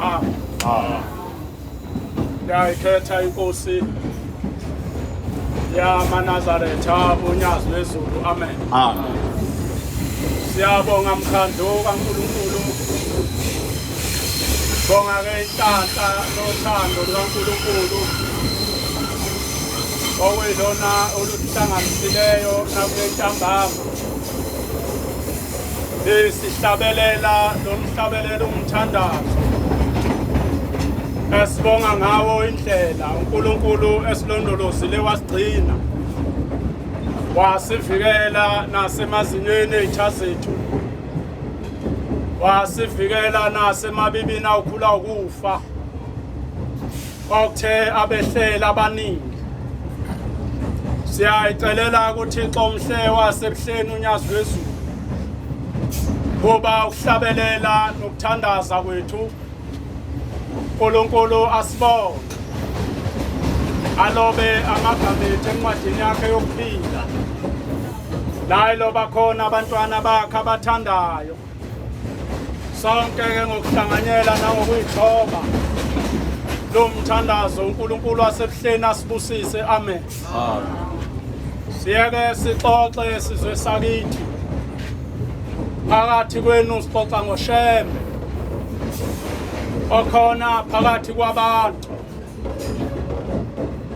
Ah. Ah. Ndiyayikhetha inkosi yamanazaretha unyazi lwezulu amen amen siyabonga mkhandlu kankulunkulu bonga ke inhlanhla nothando lukankulunkulu okwelona oluhlanganisileyo nakule ntambama sihlabelela lo mhlabelelo umthandazo esibonga ngawo indlela uNkulunkulu esilondolozile wasigcina wasivikela nasemazinyweni ezitha zethu wasivikela nasemabibini awukhula ukufa Kwakuthe abehlela abaningi. Siyayicelela kuThixo umhle wasebuhleni unyazi lwezulu. Kuba ukuhlabelela nokuthandaza kwethu uNkulunkulu asibonge alobe amagama ethu encwadini yakhe yokuphila naye loba khona abantwana bakhe abathandayo sonke ke ngokuhlanganyela nangokuyithoba lo mthandazo uNkulunkulu wasebuhleni asibusise amen siyeke sixoxe sizwe sakithi phakathi kwenu sixoxa ngoshembe okhona phakathi kwabantu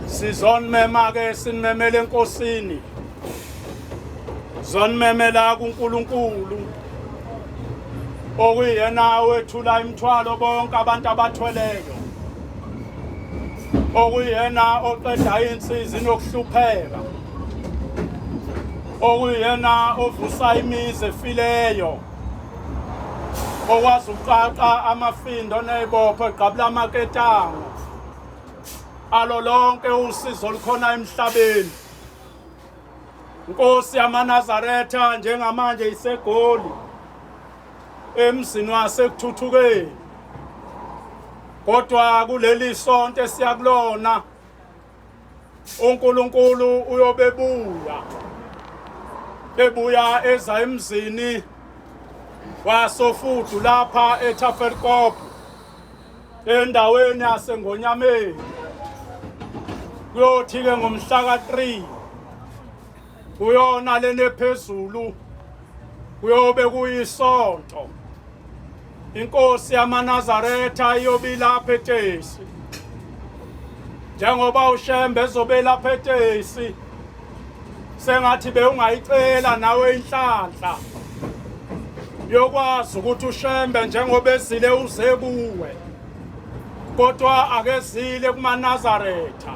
sizonimema-ke sinimemele enkosini zonimemela kuNkulunkulu okuyena wethula imithwalo bonke abantu abathweleyo okuyena oqeda insizi nokuhlupheka okuyena ovusa imizi efileyo okwazi uqaqa amafindo nezibopho egqabula amaketango alo lonke usizo olukhona emhlabeni Nkosi yamaNazaretha njengamanje iseGoli emzini waseKuthuthukeni kodwa kuleli sonto esiyakulona uNkulunkulu uyobebuya ebuya eza emzini wasofudu lapha eTafelkop endaweni yaseNgonyameni kuyothi-ke ngomhla ka-3 kuyona lena ephezulu kuyobe kuyisonto inkosi yamanazaretha iyobe ilapha etesi njengoba ushembe ezobe elapha etesi sengathi bewungayicela nawe inhlanhla yokwazi ukuthi ushembe njengoba ezile uze kuwe kodwa akezile kumanazaretha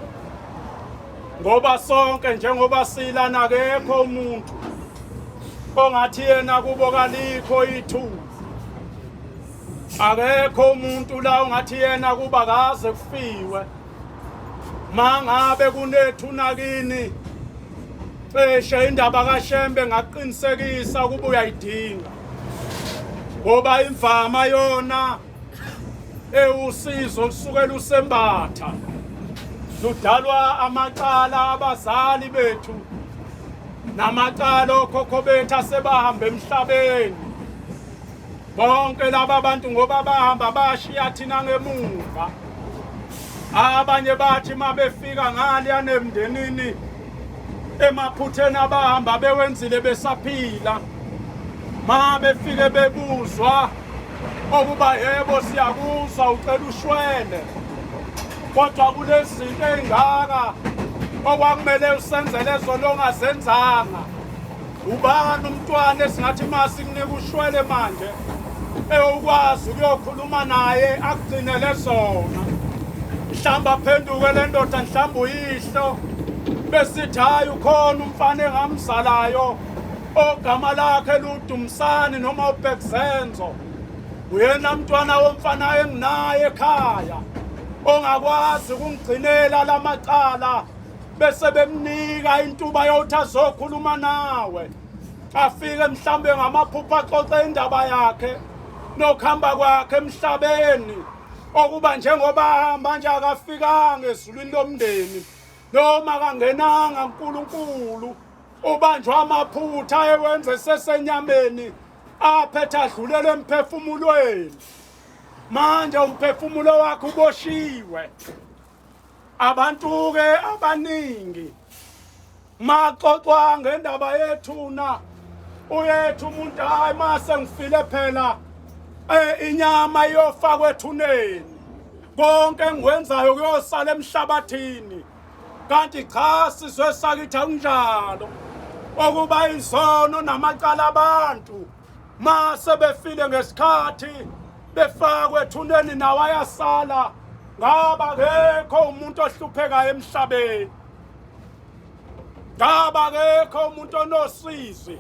ngoba sonke njengoba silana akekho umuntu ongathi yena kubo kalikho ithuba akekho umuntu la ongathi yena kuba kaze kufiwe mangabe kunethuna kini cishe indaba kaShembe ngaqinisekisa ukuba uyayidinga ngoba imvama yona ewusizo lusuke lusembatha ludalwa amacala abazali bethu namacala okhokho bethu asebahambe emhlabeni Bonke laba bantu ngoba bahamba bashiya thina ngemuva. Abanye bathi mabefika ngale yanemndenini emaphutheni abahamba bewenzile besaphila. Ma befike bebuzwa okuba yebo siyakuzwa ucela ushwele. Kodwa kunezinto ezingaka okwakumele usenzele zona ongazenzanga. Ubani umntwana esingathi masimnike ushwele manje ewukwazi ukuyokhuluma naye akugcinele zona mhlawumbe aphenduke le ndoda mhlawumbe uyihlo besithi hhayi ukhona umfana engamzalayo ogama lakhe ludumisani noma ubhekzenzo uyena mntwana womfana enginaye ekhaya ongakwazi ukungigcinela la macala bese bemnika intuba yokuthi azokhuluma nawe afike mhlambe ngamaphupha axoxe indaba yakhe nokuhamba kwakhe emhlabeni okuba njengoba ahamba nje akafikanga ezulwini lomndeni noma kangenanga uNkulunkulu ubanjwa amaphutha ewenze sesenyameni aphethe adlulele emphefumulweni manje umphefumulo wakhe uboshiwe abantu ke abaningi maxoxwa ngendaba yethuna uyethu umuntu hayi mase ngifile phela eh inyama iyofakwa ethuneni konke engikwenzayo kuyosala emhlabathini kanti cha sizwe sakithi akunjalo okuba izono namacala abantu mase befile ngesikhathi befakwe ethuneni nawo ayasala ngaba kekho umuntu ohluphekayo emhlabeni ngaba kekho umuntu onosizi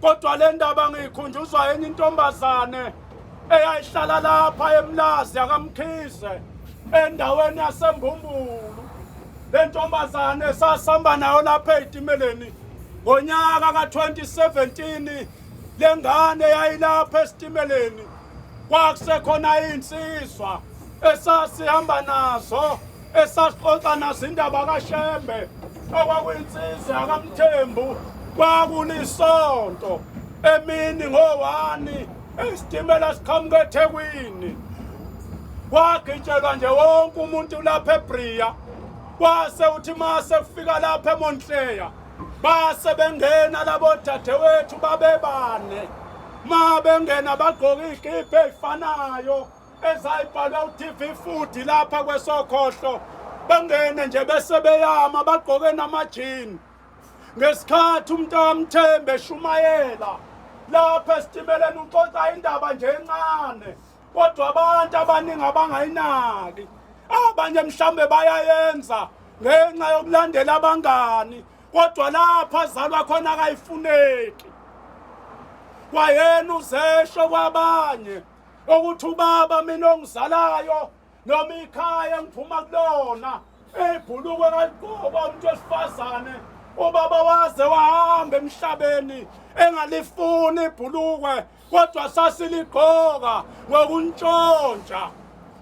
kodwa le ndaba ngiyikhunjuzwa enye intombazane eyayihlala lapha emlazi yakamkhize endaweni yasembumbulu le ntombazane sasihamba nayo lapha ey'timeleni Ngonyaka ka-2017 le ngane yayilapha esitimeleni kwakusekhona iy'nsizwa esasihamba nazo esasixoxa nazo indaba kashembe okwakuyinsizwa yakamthembu kwakulisonto emini ngowani isitimela siqhamuka ethekwini wagitshelwa nje wonke umuntu lapha ebria Kwase uthi mase kufika lapha eMontleya base bengena labo dadewethu babebane ma bengena bagqoka izikipa ezifanayo ezayibhalwa uTV Food lapha kwesokhohlo bangene nje bese beyama bagqoke namajini ngesikhathi umuntu amthembe shumayela lapha esitimeleni uxoxa indaba nje encane kodwa abantu abaningi abangayinaki abanye mhlawumbe bayayenza ngenxa yokulandela abangani kodwa lapho azalwa khona akayifuneki kwayena uzesho kwabanye ukuthi ubaba mina ongizalayo noma ikhaya ngiphuma kulona ibhulukwe kaligqoka umuntu wesifazane ubaba waze wahamba emhlabeni engalifuni ibhulukwe kodwa sasiligqoka ngokuntshontsha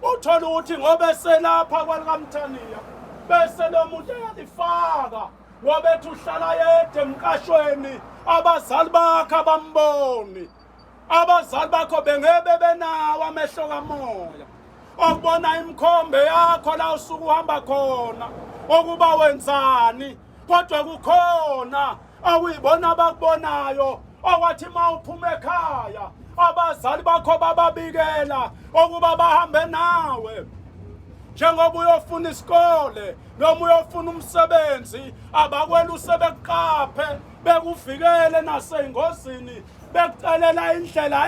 uthole ukuthi ngoba eselapha kwalikamthaniya bese lo muntu eyalifaka ngoba ethi uhlala yedwa emqashweni abazali bakhe abamboni abazali bakho bengebe benawo amehlo kamoya okubona imikhombe yakho la usuke uhamba khona okuba wenzani kodwa kukhona awuyibona abakubonayo owathi uma uphuma ekhaya abazali bakho bababikela okuba bahambe nawe njengoba uyofuna isikole noma uyofuna umsebenzi abakwela usebekuqaphe bekuvikele nasengozini bekucelela indlela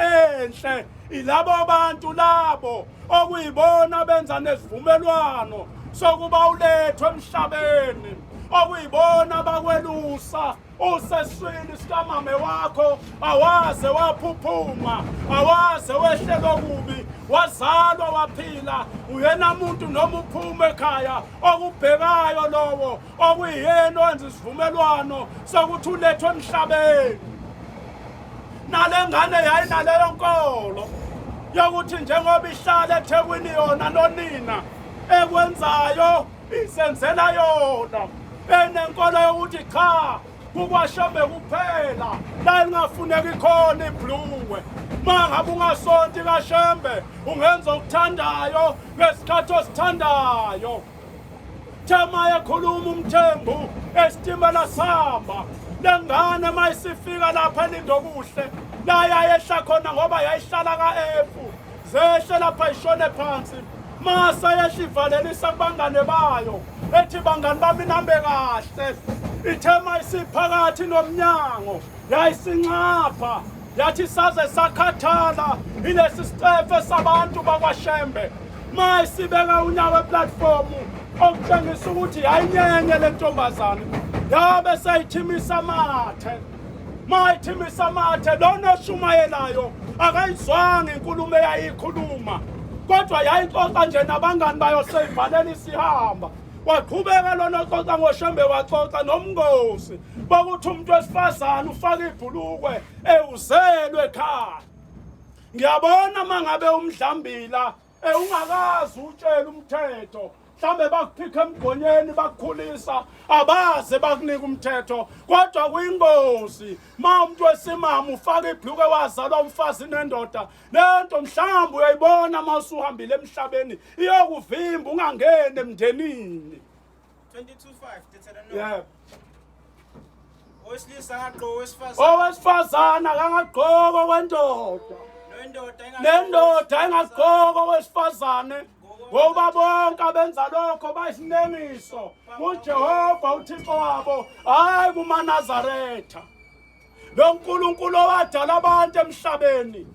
enhle ilabo bantu labo okuyibona benza nesivumelwano sokuba ulethwe emhlabeni okuyibona bakwelusa useswini sikamame wakho awaze waphuphuma awaze wehlelwa kubi wazalwa waphila uyena muntu noma uphuma ekhaya okubhekayo lowo okuyiyena owenza isivumelwano sokuthi ulethwe emhlabeni nale ngane yayinaleyo nkolo yokuthi njengoba ihlala ethekwini yona nonina ekwenzayo isenzela yona enenkolo yokuthi cha kukwashembe kuphela la lingafuneki khona ibhluwe ma ngabe ungasonti kashembe ungenza okuthandayo ngesikhathi osithandayo Thema yakhuluma umthembu esitimela samba lengane uma isifika lapha elindokuhle la yayehla khona ngoba yayihlala ka-efu zehle lapha ishone phansi masa yehla ivalelisa kubangane bayo ethi bangani bami nambe kahle ithema isiphakathi nomnyango yayisinxapha yathi saze sakhathala ilesi sicefe sabantu bakwashembe ma isibeka unyawo eplatfomu okutshengisa ukuthi yayinyenye le ntombazane yabe seyithimisa amathe ma ithimisa amathe lona oshumayelayo akayizwanga inkulumo eyayikhuluma kodwa yayixoxa nje nabangani bayo seyivalela isihamba waqhubeka lona oxoxa ngoshembe waxoxa nomngosi bakuthi umuntu wesifazane ufaka ibhulukwe ewuzelwe ekhaya ngiyabona uma ngabe umdlambila ewungakazi utshela umthetho mhlawumbe bakuphikha emgonyeni bakukhulisa abaze bakunika umthetho kodwa kuyingozi ma umuntu wesimama ufaka ibhluke wazalwa umfazi nendoda le nto mhlawumbe uyayibona uma usuhambile emhlabeni iyokuvimba ungangeni emndenini 22.5 yeah owesilisa akagqoki owesifazane owesifazane akangagqoki okwendoda nendoda engagqoki owesifazane ngoba bonke abenza lokho bayisinengiso kujehova uthixo wabo hhayi kumanazaretha Lo Nkulunkulu owadala abantu emhlabeni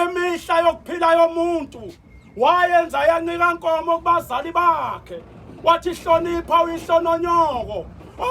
imihla yokuphila yomuntu wayenza yancika nkomo kubazali bakhe wathi hlonipha uyihlononyoko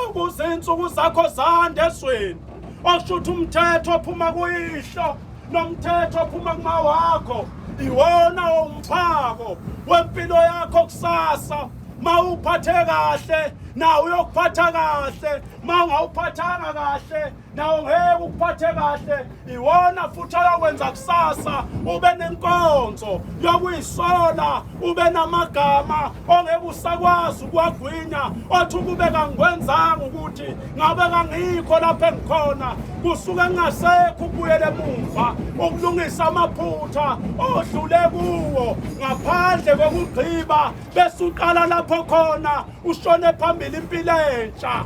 ukuze insuku zakho zande esweni osho ukuthi umthetho ophuma kuyihlo nomthetho ophuma kumawakho iwona umphako wempilo yakho kusasa mawuphathe kahle nawe uyokuphatha kahle ma ungawuphathanga kahle nawo ngeke ukuphathe kahle iwona futhi ayokwenza kusasa ube nenkonzo yokuyisola ube namagama ongeke usakwazi ukuwagwinya othi ukube kangikwenzanga ukuthi ngabe kangikho lapho engikhona kusuke kungasekho ukubuyela emuva ukulungisa amaphutha odlule kuwo ngaphandle kokugqiba bese uqala lapho khona ushone phambili impilo entsha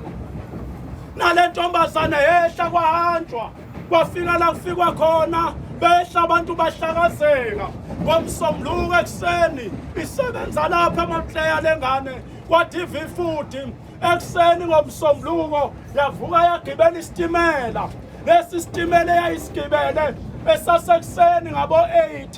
nale ntombazane yehla kwahanjwa kwafika la kufikwa khona behla abantu bahlakazeka ngomsombuluko ekuseni isebenza lapha emapleya lengane kwa-tv futhi ekuseni ngomsombuluko yavuka yagibela isitimela lesi sitimela eyayisigibele esasekuseni ngabo-8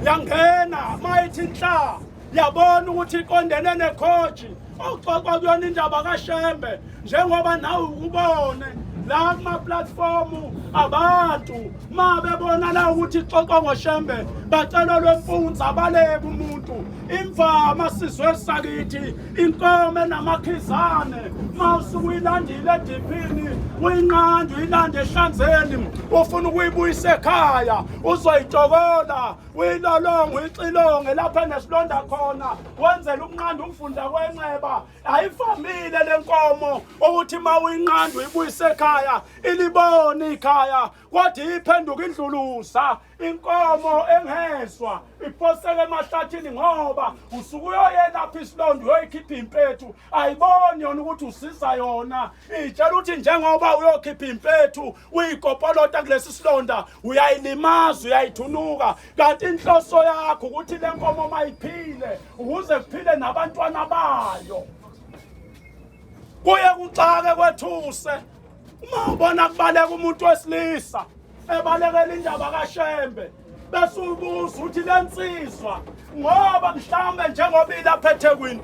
yangena mayithi nhla yabona ukuthi iqondene nekhoji okuxoxwa kuyona indaba kashembe njengoba nawe ukubone la kumaplatfomu abantu ma bebonana ukuthi ixoxwa ngoshembe bacela lwemfunza baleke umuntu imvama sizwe sakithi inkomo enamakhizane ma usuke uyilandile ediphini uyinqanda uyilande ehlanzeni ufuna ukuyibuyisa ekhaya uzoyitokola uyilolongo ixilonge lapha nesilonda khona wenzela ukunqanda umfunda kwenxeba ayifamile le nkomo ukuthi uma uyinqanda uyibuyise ekhaya ilibone ikhaya kodwa iphenduka indlulusa inkomo engezwa iphoseke emahlathini ngoba usuke uyoyelapha isilonda uyoyikhipha impethu ayiboni yona ukuthi usiza yona itshela ukuthi njengoba uyokhipha impethu uyikopolota kulesi silonda uyayilimaza uyayithunuka kanti inhloso yakho ukuthi le nkomo mayiphile ukuze kuphile nabantwana bayo kuye kuxake kwethuse uma ubona kubaleka umuntu wesilisa ebalekela indaba kashembe besubuza ukuthi le nsizwa ngoba mhlawumbe njengoba ilapha ethekwini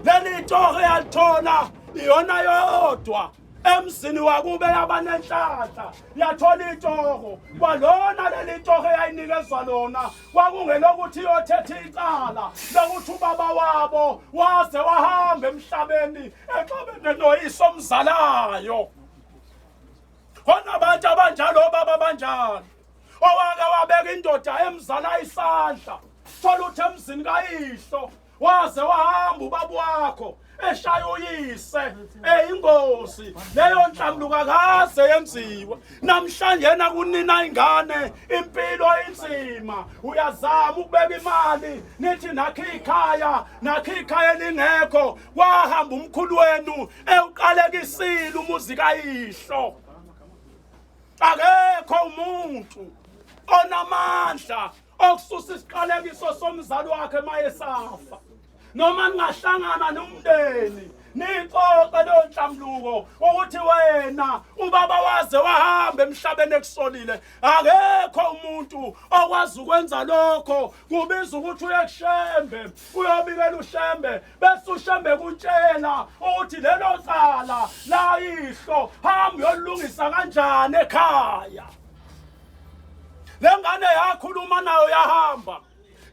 leli torho yalithola iyona yodwa emzini wakube yabanenhlanhla yathola itoho kwalona leli toho eyayinikezwa lona kwakungelokuthi iyothetha icala lokuthi ubaba wabo waze wahamba emhlabeni exabene noyiso omzalayo khona abantu abanjalo obaba abanjalo owake wabeka indoda emzala isandla thola uthi emzini kayihlo waze wahamba ubaba wakho eshaya uyise eyingozi leyo nhlambuluka kaze yenziwe namhlanje yena kunina ingane impilo inzima uyazama ukubeka imali nithi nakhe ikhaya nakhe ikhaya elingekho wahamba umkhulu wenu ewuqalekisile umuzi kayihlo akekho umuntu onamandla okususa isiqalekiso somzali wakhe mayesafa noma ningahlangana nomndeni nixoxe leyo nhlambuluko ukuthi wena ubaba waze wahamba emhlabeni ekusolile akekho umuntu okwazi ukwenza lokho kubiza ukuthi uye kushembe uyobikela ushembe bese ushambe kutshela ukuthi lelo cala layihlo hamba uyolungisa kanjani ekhaya lengane yakhuluma nayo yahamba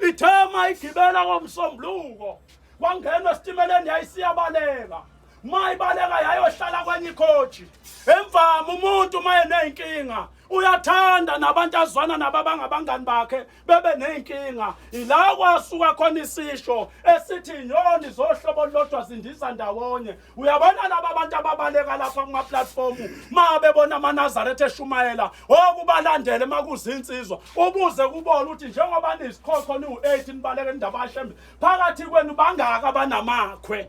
ithema igibela ngomsombuluko wangena esitimeleni yayisiyabaleka mayibaleka yayohlala kwenye ikhoji emvama umuntu uma eneyinkinga uyathanda nabantu azwana nabo abangabangani bakhe bebe ney'nkinga ila kwasuka khona isisho esithi inyoni zohlobo olulodwa zindiza ndawonye uyabona laba bantu ababaleka lapha kumaplatfomu ma bebona amanazaretha eshumayela okubalandele uma kuzinsizwa ubuze kubona ukuthi njengoba niyisikhokhona iwu-eight nibaleke indaba ashembe phakathi kwenu bangaki abanamakhwe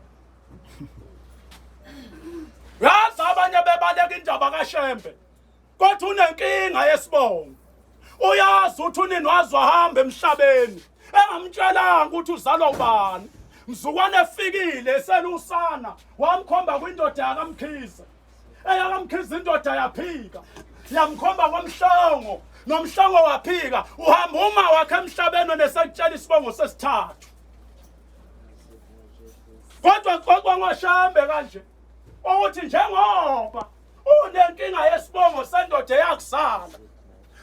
yazi abanye bebaleka indaba kashembe Kwathi unenkinga yesibongo. Uyazi uthi unini wazi wahamba emhlabeni engamtshelanga ukuthi uzalwa ubani. Mzukwane efikile eselusana wamkhomba kwindoda yakamkhize. Eyakamkhize indoda yaphika. Yamkhomba kwamhlongo nomhlongo waphika uhamba uma wakhe emhlabeni onesekutshela isibongo sesithathu. Kodwa kodwa ngoshambe kanje ukuthi njengoba unenkinga yesibongo sendoda eyakuzala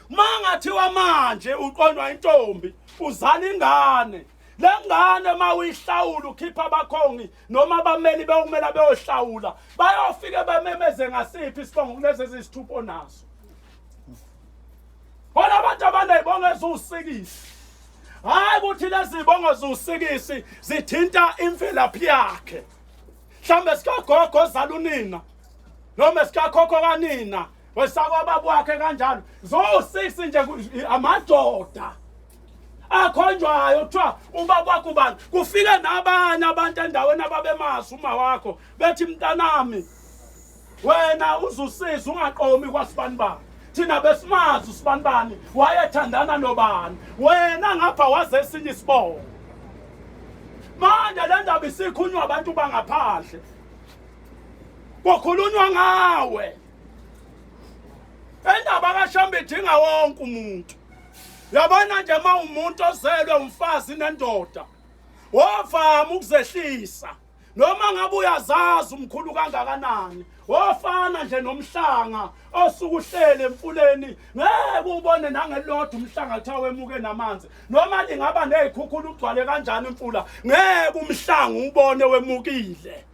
mangathiwa manje uqonywa intombi uzala ingane le ngane uma uyihlawula ukhipha abakhongi noma abameli bekumela beyohlawula bayofike bamemeze ngasiphi isibongo kulezi eziyisithupha onaso bona abantu abanezibongo eziwusikisi hhayi ukuthi lezi zibongo ziwusikisi zithinta imvelaphi yakhe mhlawumbe sikagogo ozala unina noma sikakhokho kanina wesakwababa wakhe kanjalo zo-six nje amadoda akhonjwayo kuthiwa ubaba wakho ubani kufike nabanye abantu endaweni ababemazi uma wakho bethi mntanami wena uzusiza ungaqomi kwasibani bani thina besimazi usibani bani wayethandana nobani wena ngapha waze esinye isibongo manje le ndaba isikhunywa abantu bangaphandle kukhulunywa ngawe endaba kashamba idinga wonke umuntu yabona nje uma umuntu ozelwe umfazi nendoda wavama ukuzehlisa noma ngabe uyazazi umkhulu kangakanani wofana nje nomhlanga osuke uhlele emfuleni ngeke ubone nangelodwa umhlanga kuthiwa wemuke namanzi noma lingaba nezikhukhula ugcwale kanjani imfula ngeke umhlanga ubone wemukile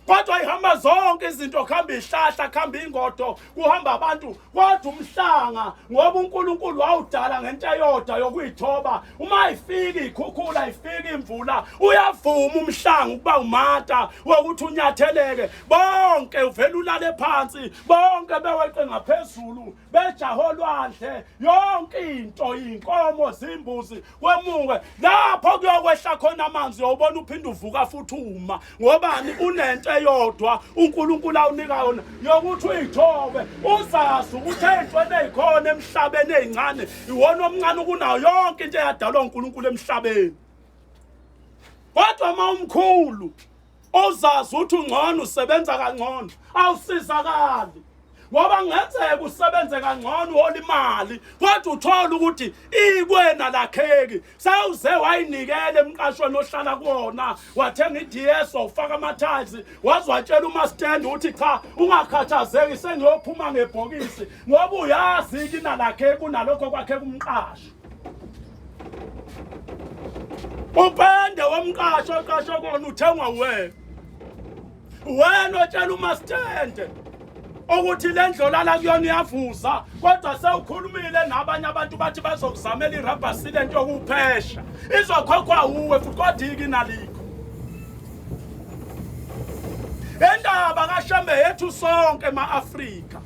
kodwa ihamba zonke izinto kuhamba ihlahla kuhamba ingodo kuhamba abantu kodwa umhlanga ngoba uNkulunkulu wawudala ngento eyodwa yokuyithoba uma ifika ikhukhula ifika imvula uyavuma umhlanga ukuba umata wokuthi unyatheleke bonke uvela ulale phansi bonke beweqe ngaphezulu bejaha olwandle yonke into iy'nkomo zimbuzi kwemuke lapho kuyokwehla khona amanzi yobona uphinde uvuka futhi uma ngobani unento eyodwa unkulunkulu awunika yona yokuthi uyithobe uzazi ukuthi ey'ntweni ey'khona emhlabeni ey'ncane iwona omncane ukunayo yonke into eyadalwa unkulunkulu emhlabeni kodwa uma umkhulu ozazi uthi ungcono usebenza kangcono awusizakali ngoba ngenzeka usebenze kangcono uhola imali kodwa uthole ukuthi ikwena lakheki sewuze wayinikela emqashweni ohlala kuwona wathenga i-ds wawufaka ama-tiles wazwatshela umastand ukuthi cha ungakhathazeki sengiyophuma ngebhokisi ngoba uyazi kinalakheki unalokho kwakhe kumqashi upende womqasho oqasho kona uthengwa wena wena otshela umasithende ukuthi le ndlolala kuyona iyavuza kodwa sewukhulumile nabanye abantu bathi bazokuzamela irabha silent yokuphesha izokhokhwa wuwe futhi kodwa iki nalikho indaba kashembe yethu sonke ma-afrika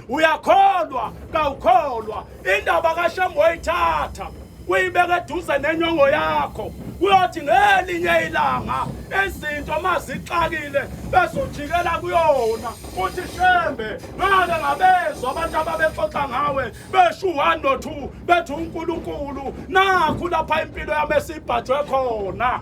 uyakholwa kawukholwa indaba kashembe oyithatha uyibeke eduze nenyongo yakho kuyothi ngelinye ilanga izinto uma zixakile bezojikela kuyona uthi shembe ngake ngabezwa abantu ababexoxa ngawe besho u-one no two bethi unkulunkulu nakhu lapha impilo yami esibhajwe khona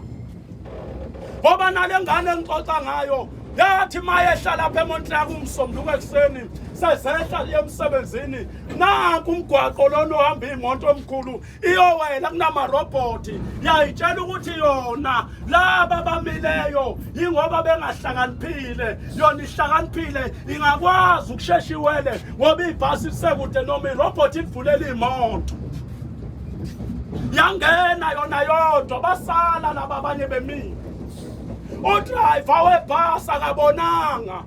ngoba nale ngane engixoxa ngayo yathi mayehla lapha emontlaka umsomnduka ekuseni sezehla liye emsebenzini naku umgwaqo lona ohamba iy'moto omkhulu iyowela kunamarobhoti yayitshela ukuthi yona laba bamileyo yingoba bengahlakaniphile yona ihlakaniphile ingakwazi ukushesha iwele ngoba ibhasi lisekude noma irobhoti livulele iy'moto yangena yona yodwa basala laba abanye bemile udrayiva webhasi akabonanga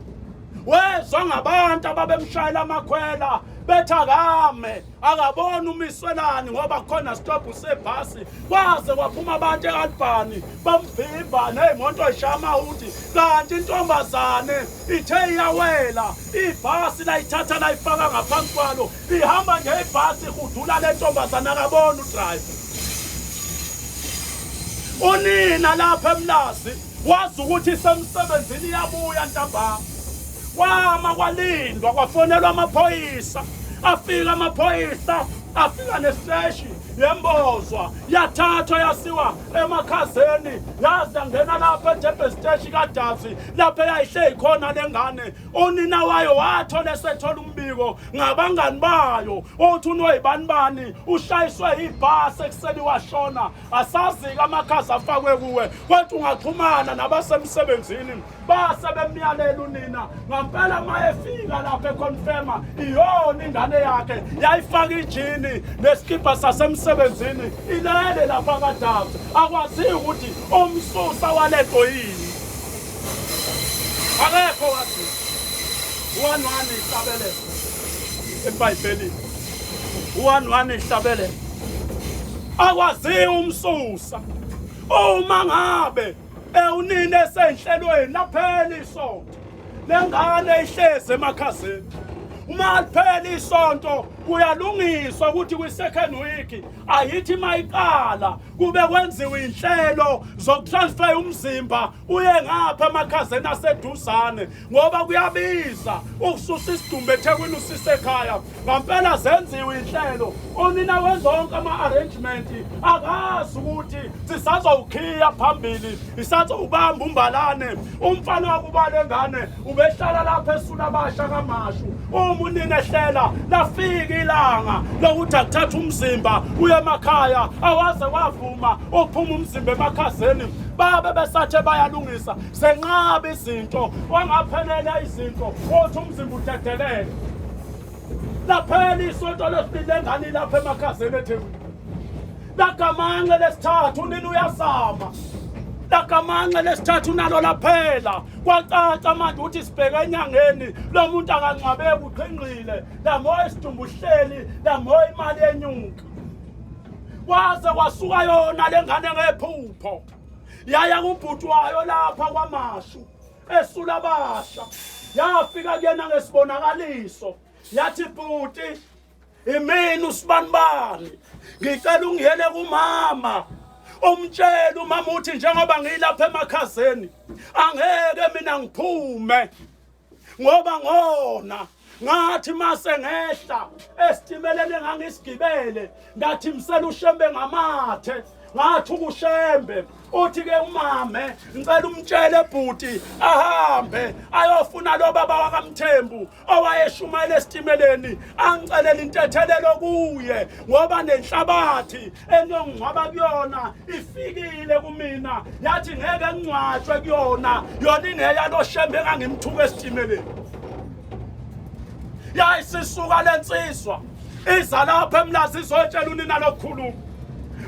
wezwa ngabantu ababemshayela amakhwela bethi akame akaboni umiswelani ngoba khona stobhu sebhasi kwaze kwaphuma abantu ealbhani bamvimba ney'moto eyishaya amahudi kanti intombazane ithe iyawela ibhasi layithatha layifaka ngaphansi kwalo Ihamba nje ibhasi ihudula le ntombazana akabona udriver. Unina lapha emlazi wazi ukuthi isemsebenzini iyabuya ntambama. Kwama kwalindwa kwafonelwa amaphoyisa afika amaphoyisa afika nesiteshi yembozwa yathathwa yasiwa emakhazeni yaze yangena lapha ejebhe siteshi kadabsi lapho eyayihleli khona le ngane unina wayo wathola esethola umbiko ngabangani bayo othi unoyibani bani ushayiswe ibhasi ekuseni washona asazi-ke amakhazi afakwe kuwe kwathi ungaxhumana nabasemsebenzini base bemyalela unina ngampela uma efika lapho econfirma iyona ingane yakhe yayifaka ijini nesikibha sasemsebenzini ilele lapha kadazi akwaziyo ukuthi umsusa walento yini akekho wathi one one ihlabelele ebhayibhelini one one ihlabelele akwaziwa umsusa uma ngabe ewunini esenhlelweni laphela isonto lengane ihlezi emakhazeni uma liphela isonto kuyalungiswa ukuthi kwi-second week ayithi mayiqala kube kwenziwe inhlelo zokutransfer umzimba uye ngapha emakhazeni aseduzane ngoba kuyabiza ukususa isidumbu ethekwini usise ekhaya ngampela zenziwe inhlelo unina wezonke ama-arrangement akazi ukuthi sisazowukhiya phambili isazowubamba umbalane umfana wakuba le ngane ubehlala lapha esula abasha kamashu uma unina ehlela lafika ilanga lokuthi akuthatha umzimba uye emakhaya awaze wavuma ukuphuma umzimba emakhazeni babe besathe bayalungisa senqaba izinto wangaphelela izinto othi umzimba udedelele laphela isonto lesibili lengane ilapha emakhazeni ethekwini lagamanxe lesithathu unini uyazama lagamanxe lesithathu unalo laphela kwacaca manje ukuthi sibheke enyangeni lo muntu akangcwabeki uqhinqile lamoya isidumbu uhleli lamoya imali yenyuka kwaze kwasuka yona lengane ngephupho yaya kubhuti wayo lapha kwamashu esula basha yafika kuyena ngesibonakaliso yathi bhuti imini usibanibani ngicela ungiyele kumama umtshela umama uthi njengoba ngiyilapha emakhazeni angeke mina ngiphume ngoba ngona ngathi mase ngehla esitimeleni engangisigibele ngathi msela ushembe ngamathe ngathi ukushembe uthi ke umame ngicela umtshele bhuti ahambe ayofuna lo baba wakamthembu owayeshumayela esitimeleni angicelela intethelelo kuye ngoba nenhlabathi eniyongingcwaba kuyona ifikile kumina yathi ngeke ngcwatshwe kuyona yona ingeyaloshembe engangimthuka esitimeleni yayi sisuka le nsizwa iza lapho emlazi izotshela unina lokukhuluma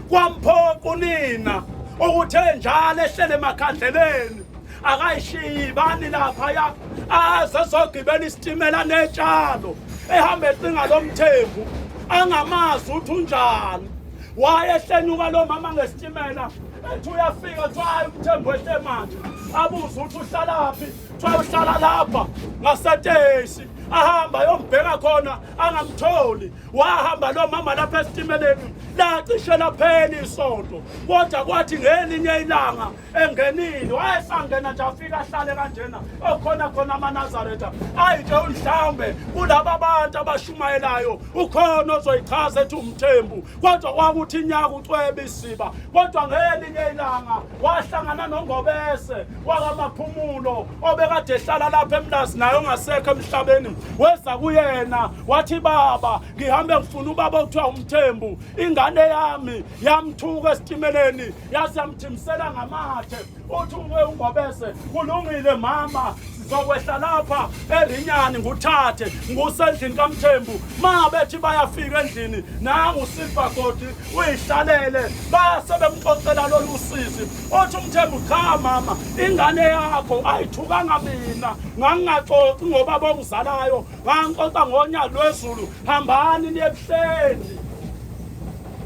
kwamphoqa unina ukuthi enjalo ehlele emakhandleleni akayishiyi bani laphaya aze azogibela isitimela netshalo ehamba ecinga lo mthembu angamazi ukuthi unjani wayehlenyuka lo mama ngesitimela ethi uyafika kuthiwa hayi umthembu ehle manje abuze ukuthi uhlalaphi kuthiwa uhlala lapha ngasetesi ahamba ayombheka khona angamtholi wahamba lo mama lapha esitimeleni lacishe laphela isonto kodwa kwathi ngelinye ilanga engenile wayesangena nje afike ahlale kanjena okhona khona amanazaretha ayi nje mhlawumbe kulaba bantu abashumayelayo ukhona ozoyichaza ethi umthembu kodwa kwakuthi inyaka ucwebe isiba kodwa ngelinye ilanga wahlangana nongobese wakamaphumulo obekade ehlala lapha emlazi naye ongasekho emhlabeni weza kuyena wathi baba ngihambe ngifuna ubaba okuthiwa umthembu ingane yami yamthuka esitimeleni yazi yamjimsela ngamathe uthi uke ungobese kulungile mama sizokwehla lapha erinyani nguthathe ngusendlini kamthembu ma bethi bayafika endlini nangu silva godi uyihlalele base bemxoxela lolu sizi othi umthembu cha mama ingane yakho ayithukanga mina ngangingaxoxi ngoba bongizalayo ngangixoxa ngonya lwezulu hambani niyebuhleni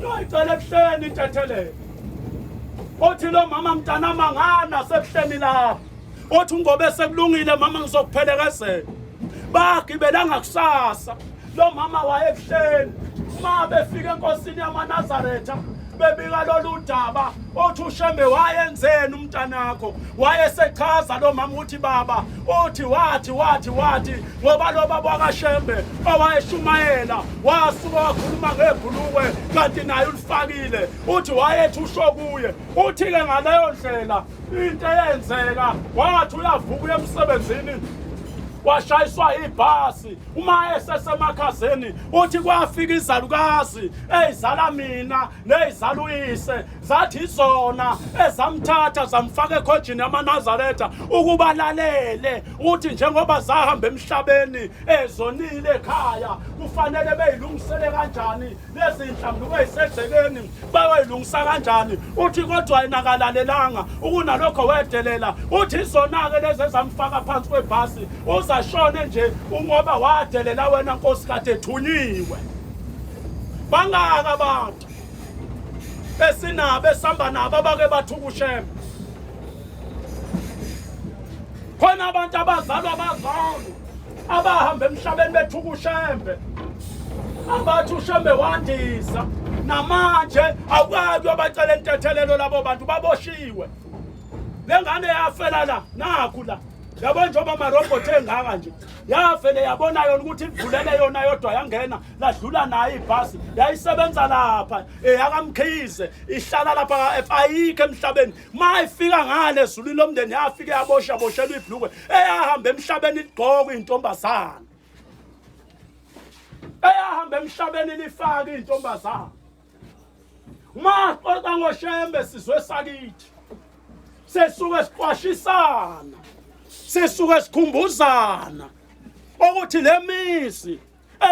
Noyicela ebuhleni intethelelo. Othi lo mama mntana mangana sebuhleni lapho. Othi ungobe sekulungile mama ngizokuphelekezela. Bagibelanga kusasa. Lo mama wayebuhleni. Uma befika enkosini yamaNazaretha bebika lolu daba othi ushembe wayenzeni umntanakho wayesechaza lo mama ukuthi baba othi wathi wathi wathi ngoba lo baba wakashembe owayeshumayela wasuka wakhuluma ngebhulukwe kanti naye ulifakile uthi wayethi usho kuye uthi-ke ngaleyo ndlela into eyenzeka wathi uyavuka uye emsebenzini washayiswa ibhasi uma esesemakhazeni uthi kwafika izalukazi eyizala mina neyizala uyise zathi izona ezamthatha zamfaka ekhojini yamanazaretha ukuba lalele uthi njengoba zahamba emhlabeni ezonile ekhaya kufanele beyilungisele kanjani lezinhlamvu beyisegcekeni bayoyilungisa kanjani uthi kodwa yena kalalelanga ukunalokho wedelela uthi izona-ke lezi ezamfaka phansi kwebhasi uzashone nje ungoba wadelela wena nkosi kade ethunyiwe bangaka abantu esinabo esihamba nabo abake bathukushema khona abantu abazalwa bazalo abahamba emhlabeni bethuka ushembe abathi ushembe wandisa namanje awukwazi uyobacela intethelelo labo bantu baboshiwe le ngane yafela la nakhu la yabo njengoba marobhothi engaka nje yavele yabona yona ukuthi ivulele yona yodwa yangena ladlula nayo ibhasi yayisebenza lapha eyakamkhize ihlala lapha ayikho emhlabeni uma efika ngale ezulwini lomndeni yafike yabosha boshelwa ibhlukwe eyahamba emhlabeni ligqoka iy'ntombazane eyahamba emhlabeni lifake iy'ntombazane uma xoxa ngoshembe sizwe sakithi sesuke siqwashisana sesuke sikhumbuzana ukuthi le mizi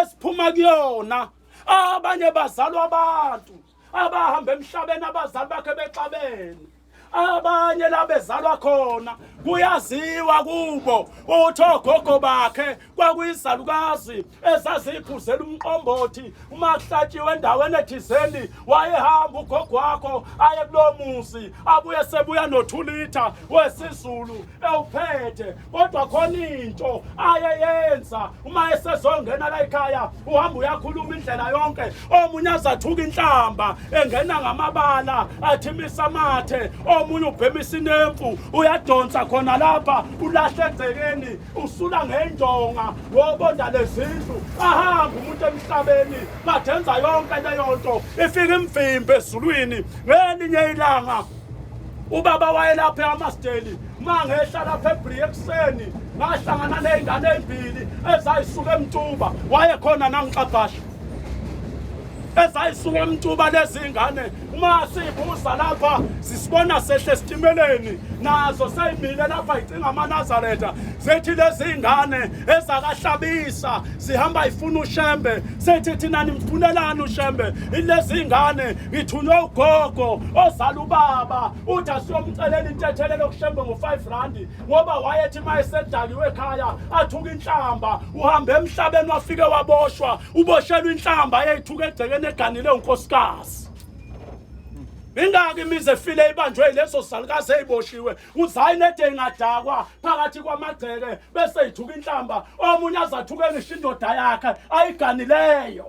esiphuma kuyona abanye bazalwa abantu abahamba emhlabeni abazali bakhe bexabene abanye la bezalwa khona kuyaziwa kubo uthi ogogo bakhe kwakuyizalukazi ezaziphuzela umqombothi uma kuhlatshiwe endaweni ethizeni wayehamba ugogo wakho aye kulowo muzi abuye sebuya nothulitha wesizulu ewuphethe kodwa khona into ayeyenza uma esezongena la ekhaya uhamba uyakhuluma indlela yonke omunye azathuka inhlamba engena ngamabala athimisa amathe omunye ubhemisa inemfu uyadonsa khona lapha ulahle egcekeni usula ngendonga wobonda lezindlu ahamba umuntu emhlabeni badenza yonke leyo nto ifika imvimbi ezulwini ngelinye ilanga ubaba wayelaphe amasteli uma ngehla lapha ebrie ekuseni ngahlangana ney'ngane ey'mbili ezayisuka emtuba wayekhona nangixabhasha ezayisuka emtuba lezi ngane uma siyibuza lapha sisibona sehle esitimeleni nazo seyimile lapha yicinga amanazaretha zethi lezi ngane ezakahlabisa sihamba ifuna ushembe sethi thina nimfunelani ushembe ilezi ngane ngithunywe ugogo ozala ubaba uthi asiyomcelela intethelelo okushembe ngo-5 randi ngoba wayethi uma esedakiwe ekhaya athuka inhlamba uhambe emhlabeni wafike waboshwa uboshelwa inhlamba eyayithuka egcekeni eganile unkosikazi ingaki imizi efile ibanjwe yileso salukazi eyiboshiwe uzayinede ingadakwa phakathi kwamagceke bese yithuka inhlamba omunye azathuke ngisho indoda yakhe ayiganileyo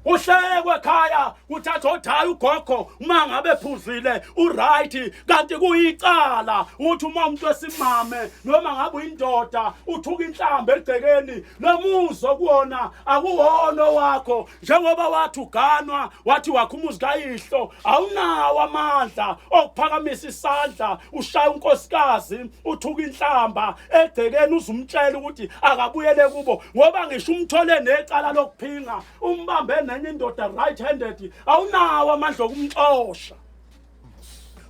uhlekwe ekhaya kuthatha odaya ugogo uma ngabe phuzile uright kanti kuyicala uthi uma umuntu esimame noma ngabe uyindoda uthuka inhlamba egcekeni nomuzo kuwona akuwona wakho njengoba wathi uganwa wathi wakho umuzi kayihlo awunawo amandla okuphakamisa isandla ushaya unkosikazi uthuka inhlamba egcekeni uzumtshela ukuthi akabuyele kubo ngoba ngisho umthole necala lokuphinga umbambe nenye indoda right handed awunawo amandla okumxosha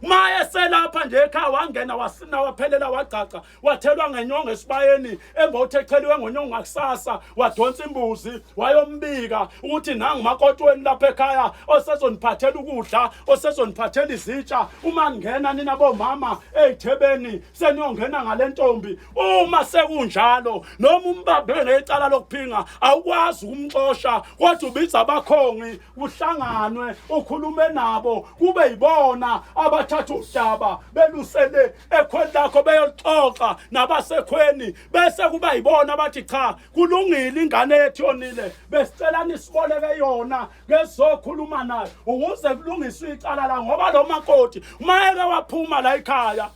maye selapha nje ekhaya wangena wasina waphelela wagcagca wathelwa ngenyongo esibayeni emva uthi echeliwe ngonyongo ngakusasa wadonsa imbuzi wayombika ukuthi nangu makotweni lapha ekhaya osezoniphathela ukudla osezoniphathela izitsha uma ngena nina bomama eyithebeni seniyongena ngale ntombi uma sekunjalo noma umbambe ngecala lokuphinga awukwazi ukumxosha kodwa ubiza abakhongi kuhlanganwe ukhulume nabo kube yibona abathatha udaba belusele ekhweni lakho beyolixoxa nabasekhweni bese kuba yibona bathi cha kulungile ingane yethu yonile besicela nisiboleke yona ngezokhuluma nayo ukuze kulungiswe icala la ngoba lo makoti uma eke waphuma la ekhaya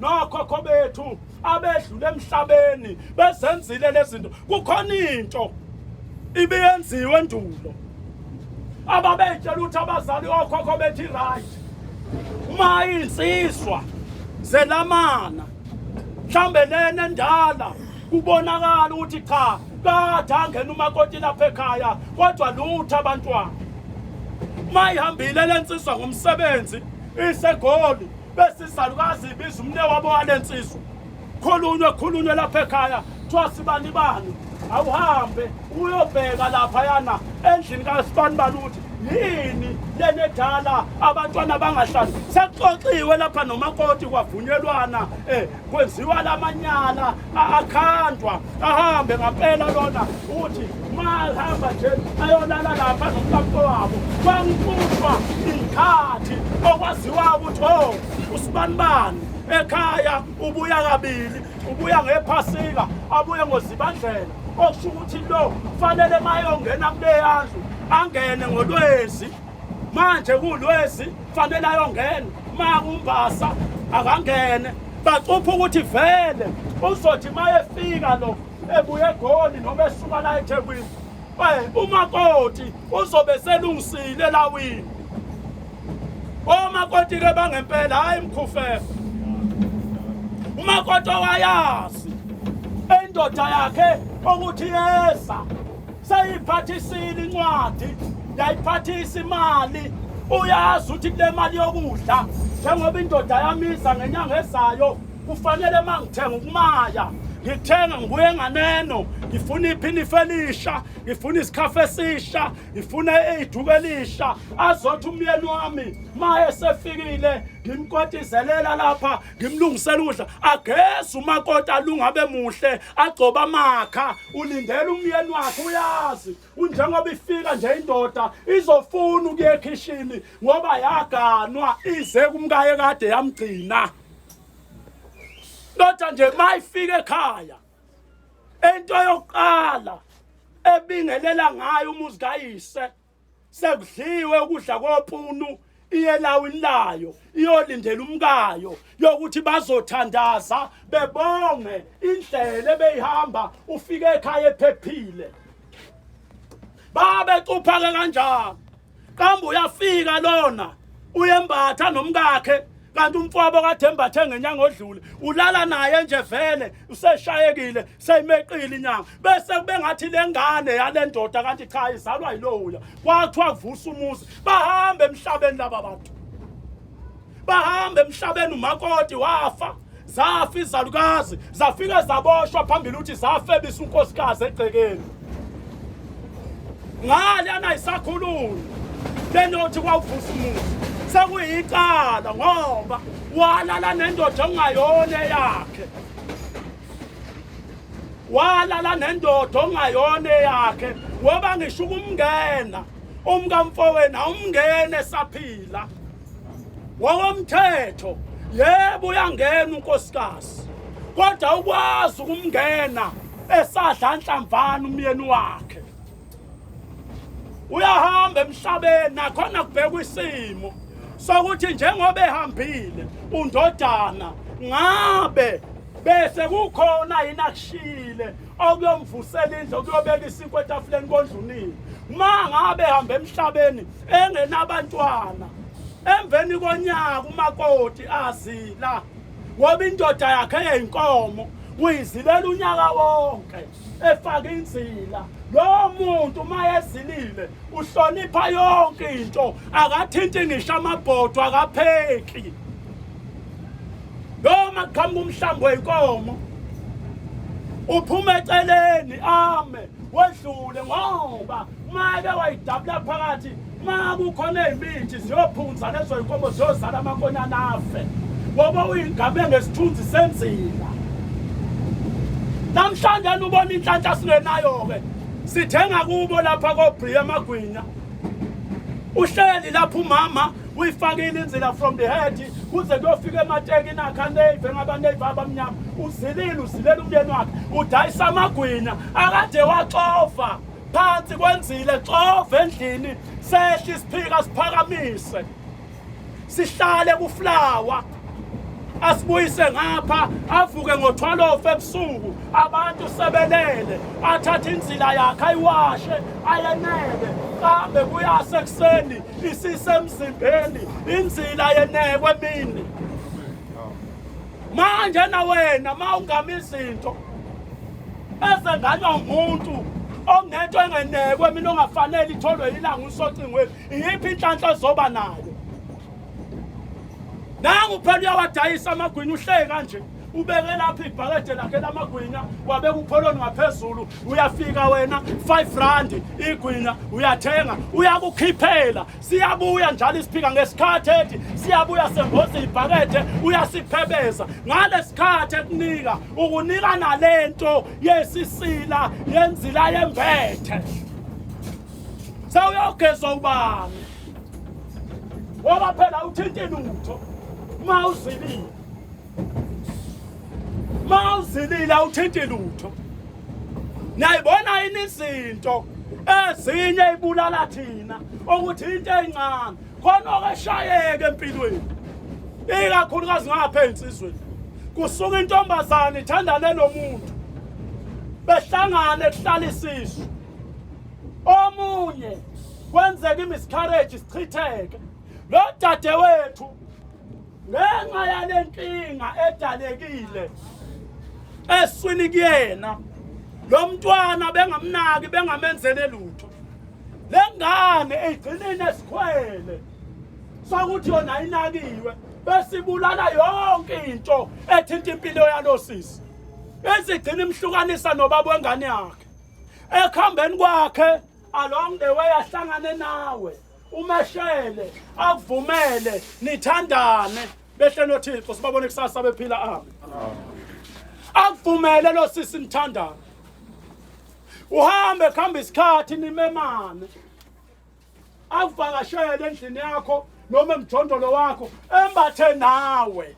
nokhokho bethu abedlule emhlabeni bezenzile lezinto kukhona into ibiyenziwe endulo ababetshela ukuthi abazali okhokho bethi right uma insizwa zelamana mhlambe lena endala kubonakala ukuthi cha kade angena umakoti lapha ekhaya kodwa lutho abantwana uma ihambile lensizwa ngomsebenzi isegoli bese izalukazi ibiza umne wabo wale nsizwa khulunywe khulunywe lapha ekhaya kuthiwa sibani bani awuhambe uyobheka lapha yana endlini kasibani bani ukuthi yini lenedala abantwana bangahlali sekuxoxiwe lapha nomakoti kwavunyelwana um kwenziwa lamanyala akhandwa ahambe ngampela lona uthi mahamba nje ayolala lapha nomkampo wabo kwangiqutshwa ikhathi okwaziwa ukuthi o oh, usibanibani ekhaya ubuya kabili ubuya ngephasika abuye ngozibandlela okusho ukuthi lo kufanele mayongena kuleyandlu angene ngolwezi manje kulwezi fanele ayongena makumbasa akangene bacupha ukuthi vele uzothi mayefika lo ebuye egoli noma esuka la ethekwini umakoti uzobe selungisile elawini omakoti ke bangempela hhayi mkhufefe umakoti owayazi endoda yakhe ukuthi yeza seyiphathisile incwadi yayiphathisa imali uyazi ukuthi kule mali yokudla njengoba indoda yamiza ngenyanga ezayo kufanele uma ngithenga ukumaya ngithenga ngibuye nganeno ngifuna iphini felisha ngifuna isikhafu esisha ngifuna iduku elisha azothi umyeni wami ma esefikile ngimkotizelela lapha ngimlungisela ukudla ageze umakoti alungabe muhle agcoba amakha ulindela umyeni wakhe uyazi unjengoba ifika nje indoda izofuna ukuya ekhishini ngoba yaganwa ize kumkaye kade yamgcina kodwa nje mayifika ekhaya into yokuqala ebingelela ngayo umuzi kayise sekudliwe ukudla kopunu iyelawini layo iyolindela umkayo yokuthi bazothandaza bebonge indlela ebeyihamba ufike ekhaya ephephile babe cuphake kanjalo qamba uyafika lona uyembatha nomkakhe kanti umfowabo kathemba athenge nyanga odlule ulala naye nje vele useshayekile seyimeqile inyanga bese kube ngathi le ngane yale ndoda kanti cha izalwa yilowuya kwathiwa kuvusa umuzi bahambe emhlabeni laba bantu bahambe emhlabeni umakoti wafa zafa izalukazi zafike zaboshwa phambili ukuthi zafebisa unkosikazi egcekeni ngale anayisakhulumi benothi kwawuvusa umuzi sekuyicala ngoba walala nendoda ongayona eyakhe walala nendoda ongayona eyakhe ngoba ngisho ukumngena umkamfowenu awumngene esaphila ngokomthetho yebo uyangena unkosikazi kodwa ukwazi ukumngena esadla nhlamvana umyeni wakhe uyahamba emhlabeni nakhona kubhekwa isimo sokuthi njengoba ehambile undodana ngabe bese kukhona yini akushile okuyomvusela indlu okuyobeka isinkwa etafuleni kondlunini ma ngabe ehamba emhlabeni engenabantwana emveni konyaka umakoti azila ngoba indoda yakhe yeyinkomo uyizilela unyaka wonke efaka inzila lowo muntu uma ezilile uhlonipha yonke into akathinti ngisho amabhodwa akapheki noma kuqhamuka umhlambi wenkomo uphuma eceleni ame wedlule ngoba make wayidabula phakathi ma kukhona iy'mithi ziyophunzana ezoyinkomo ziyozala amakonyana afe ngoba uyingabe ngesithunzi senzila namhlanje anubona inhlanhla singenayo-ke sithenga kubo lapha kobriya amagwinya uhleli lapho umama uyifake ilinzila from the head kuze kuyofika emateki nakha nave ngabanave abamnyama uzilile uzilela umyeni wakhe udayisa amagwinya akade waxova phansi kwenzile xova endlini sehle isiphika siphakamise sihlale kuflawa asibuyise ngapha avuke ngo-12 ebusuku abantu sebelele athathe inzila yakhe ayiwashe ayenele kambe kuyase ekuseni isisemzimbeni inzila yenekwe emini manje na wena ma ungama izinto ezenganywa umuntu ongento engenekwe mina ongafanele itholwe yilanga usocingweni iyiphi inhlanhla ezoba nayo nangu phela uyawadayisa amagwinya uhleye kanje ubeke lapha ibhakede lakhe lamagwinya wabeka upholoni ngaphezulu uyafika wena 5 rand igwinya uyathenga uyakukhiphela siyabuya njalo isiphika ngesikhathi ethi siyabuya semboza ibhakede uyasiphebeza ngalesikhathi ekunika ukunika nalento yesisila yenzila yembethe sawuyogeza ubani ngoba phela uthinta inutho ma uzilile ma uzilile awuthinti lutho nayibona yini izinto ezinye ibulala thina ukuthi into encane khona okeshayeke empilweni ikakhulukazi ngapha ensizweni kusuka intombazane ithandane nomuntu behlangane kuhlala isizwe omunye kwenzeka imiscarriage isichitheke lo dade wethu ngenxa yale nkinga edalekile eswini kuyena lo mntwana bengamnaki bengamenzele lutho le ngane igcinile esikhwele sokuthi yona inakiwe besibulala yonke into ethinta impilo yalo sisi ezigcina imhlukanisa nobaba wengane yakhe ekuhambeni kwakhe along the way ahlangane nawe umeshele akuvumele nithandane behle nothixo sibabone kusasa bephila amen akuvumele lo sisi nithandane uhambe kuhamba isikhathi nimemane akuvakashele endlini yakho noma emjondolo wakho embathe nawe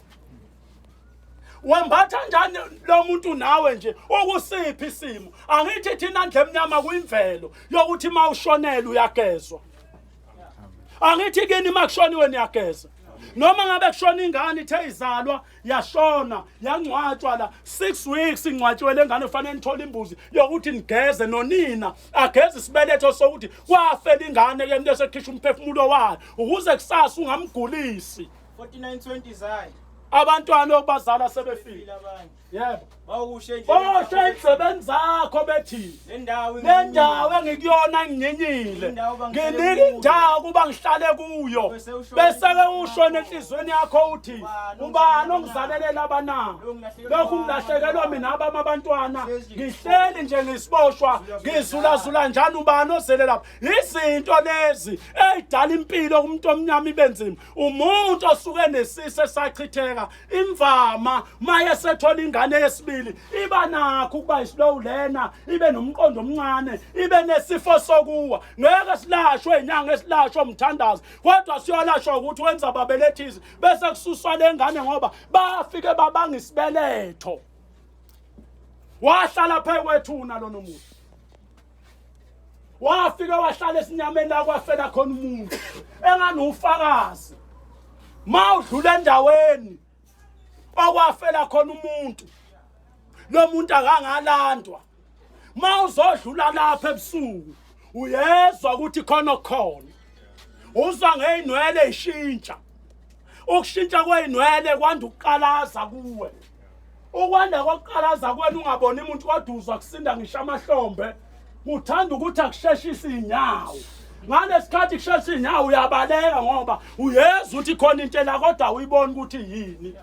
wembatha njani lo muntu nawe nje ukusiphi isimo angithi thina ndle emnyama kuyimvelo yokuthi uma ushonele uyagezwa angithi kini uma kushoniwe niyageza noma ngabe kushona ingane ithe izalwa yashona yangcwatshwa la six weeks ingcwatshiwe le ngane kufanele nithole imbuzi yokuthi nigeze nonina ageze isibeletho sokuthi kwafela ingane ke mntu esekhishwa umphefumulo wayo ukuze kusasa ungamgulisi 4920 zayi. Abantwana obazala sebefile abanye. Yebo. Bawushe nje. Bawushe izisebenzi zakho bethi. Nendawo nendawo engikuyona nginyenyile. Nginika indawo kuba ngihlale kuyo. Bese ke usho nenhlizweni yakho uthi ubani ongizalelela abanabo. Lokhu ngilahlekelwa mina abami abantwana. Ngihleli nje ngisiboshwa ngizula zula njani ubani ozele lapha. Izinto lezi ezidala impilo kumuntu omnyama ibenzima. umuntu osuke nesisi esachitheka imvama maye sethola ingane yesibili iba nakho ukuba islow learner ibe nomqondo omncane ibe nesifo sokuwa ngeke silashwe inyanga esilashwa umthandazo kodwa siyolashwa ukuthi wenza babelethizi bese kususwa lengane ngoba bafike babanga isibeletho wahlala phekwethuna lona muntu wafike wahlala esinyameni la kwafela khona umuntu engani ufakazi ma udlula endaweni okwafela khona umuntu lo muntu akangalandwa ma uzodlula lapha ebusuku uyezwa ukuthi khona okukhona uzwa ngeyinwele ishintsha ukushintsha kwey'nwele kwanda ukuqalaza kuwe ukwanda kokuqalaza kwenu ungaboni umuntu koduzwa kusinda ngisho amahlombe kuthanda ukuthi akusheshise iy'nyawo ngalesikhathi kushesha inyawo uyabaleka ngoba uyeza ukuthi khona into ela kodwa uyibona ukuthi yini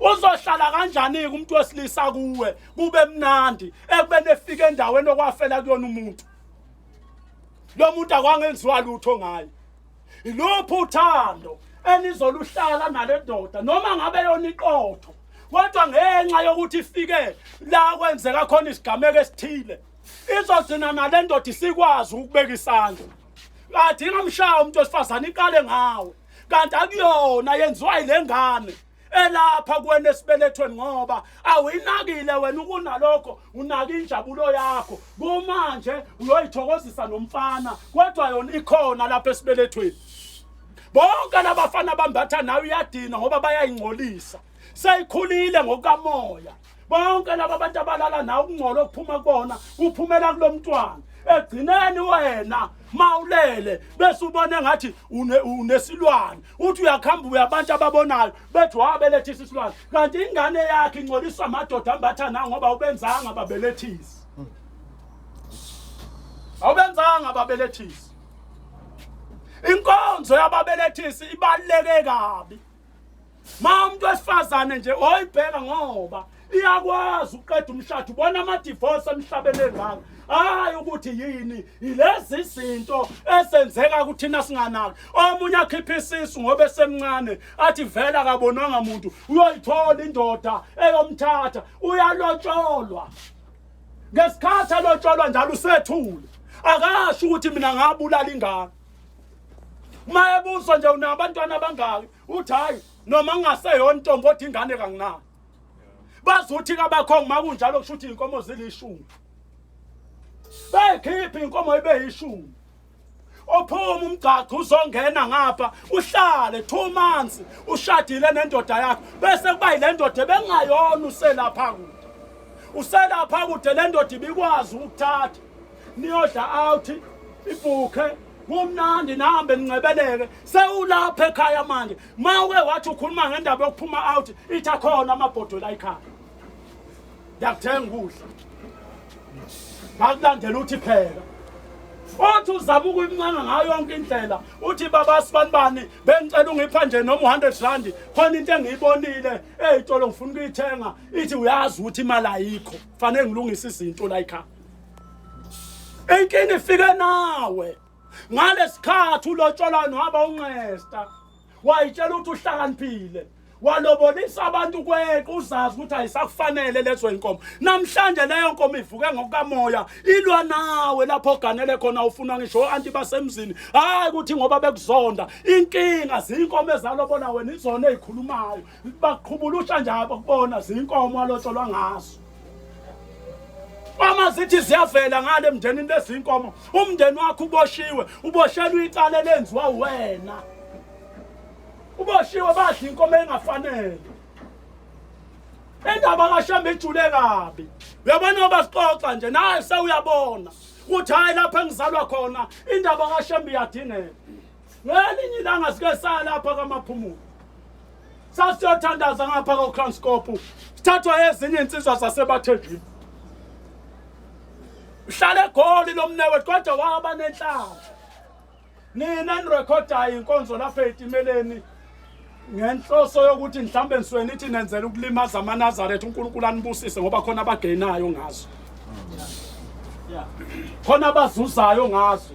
uzohlala kanjani-ke umuntu wesilisa kuwe kube mnandi ekubeni efika endaweni okwafela kuyona umuntu lo muntu akwangenziwa lutho ngaye Iluphi uthando enizoluhlala nale ndoda noma ngabe yona iqotho kodwa ngenxa yokuthi ifike la kwenzeka khona isigameko esithile izozina nale ndoda isikwazi ukubeka isandla kathi ingamshaya umuntu wesifazane iqale ngawe kanti akuyona yenziwa yile ngane elapha kuwena esibelethweni ngoba awuyinakile wena ukunalokho unaka injabulo yakho kumanje uyoyithokozisa nomfana kodwa yona ikhona lapha esibelethweni bonke labafana bambatha nawe uyadina ngoba bayayingcolisa seyikhulile ngokukamoya bonke laba abantu abalala nawe ukungcola okuphuma kubona kuphumela kulo mntwana egcineni wena mawulele bese ubone ngathi unesilwane uthi uyakhamba uya abantu ababonayo bethi wabelethisa isilwane kanti ingane yakhe ingcoliswa amadoda ambatha na ngoba ubenzanga babelethisi awubenzanga babelethisi inkonzo yababelethisi ibaluleke kabi ma umuntu wesifazane nje oyibheka ngoba iyakwazi ukuqeda umshado ubona amadivorce emhlabeni engaka hayi ukuthi yini yilezi zinto esenzeka kuthina singanaki omunye akhipha isisu ngoba esemncane athi vele akabonanga muntu uyoyithola indoda eyomthatha uyalotsholwa ngesikhathi alotsholwa njalo usethule akasho ukuthi mina ngabulala ingane uma ebuzwa nje unabantwana abangaki uthi hhayi noma kungaseyona ntombi othi ingane kanginani bazuthi kabakhongi uma kunjalo kusho ukuthi iy'nkomo zilishumi beyikhiphe iy'nkomo ibe yishumi ophuma umgcagco uzongena ngapha uhlale two months ushadile nendoda yakho bese kuba yile ndoda ebengayona uselapha kude uselapha kude le ndoda ibikwazi ukuthatha niyodla out ibhukhe kumnandi nihambe nincebeleke sewulapha ekhaya manje ma uke wathi ukhuluma ngendaba yokuphuma out ithi akhona amabhodwe la ekhaya ndiyakuthenga ukudla ngakulandela uthi phela othi uzama ukuyimncanga ngayo yonke indlela uthi baba sibani bani bengicela ungipha nje noma u-hundred randi khona into engiyibonile eyitolo ngifuna ukuyithenga ithi uyazi ukuthi imali ayikho fanele ngilungise izinto la yikhaya inkinga ifike nawe ngalesikhathi ulotsholwa nohaba unqesta wayitshela ukuthi uhlakaniphile walobonisa abantu kweqe uzazi ukuthi ayisakufanele lezo inkomo namhlanje leyo nkomo ivuke ngokukamoya ilwa nawe lapho oganele khona ufuna ngisho anti basemzini hayi ukuthi ngoba bekuzonda inkinga zinkomo ezalobola wena izona ezikhulumayo baqhubulusha njabo kubona zinkomo alotsholwa ngazo uma zithi ziyavela ngale emndenini lezinkomo umndeni wakho uboshiwe uboshelwe icala elenziwa wena uboshiwe badla inkomo engafanele indaba kashamba ijule kabi uyabona oba sixoxa nje naye sewuyabona ukuthi hhayi lapho engizalwa khona indaba kashamba iyadingeka ngelinye ilanga sike saya lapha kamaphumulo sasiyothandaza ngapha kokranskop sithathwa ezinye insizwa zasebathenjini uhlale egoli lo mnewethu kodwa waba nenhlamba nina nirekhodayo inkonzo lapha ey'timeleni ngenhloso yokuthi mhlawumbe nisuke nithi nenzela ukulimaza amanazaretha unkulunkulu anibusise ngoba khona abagenayo ngazo khona abazuzayo ngazo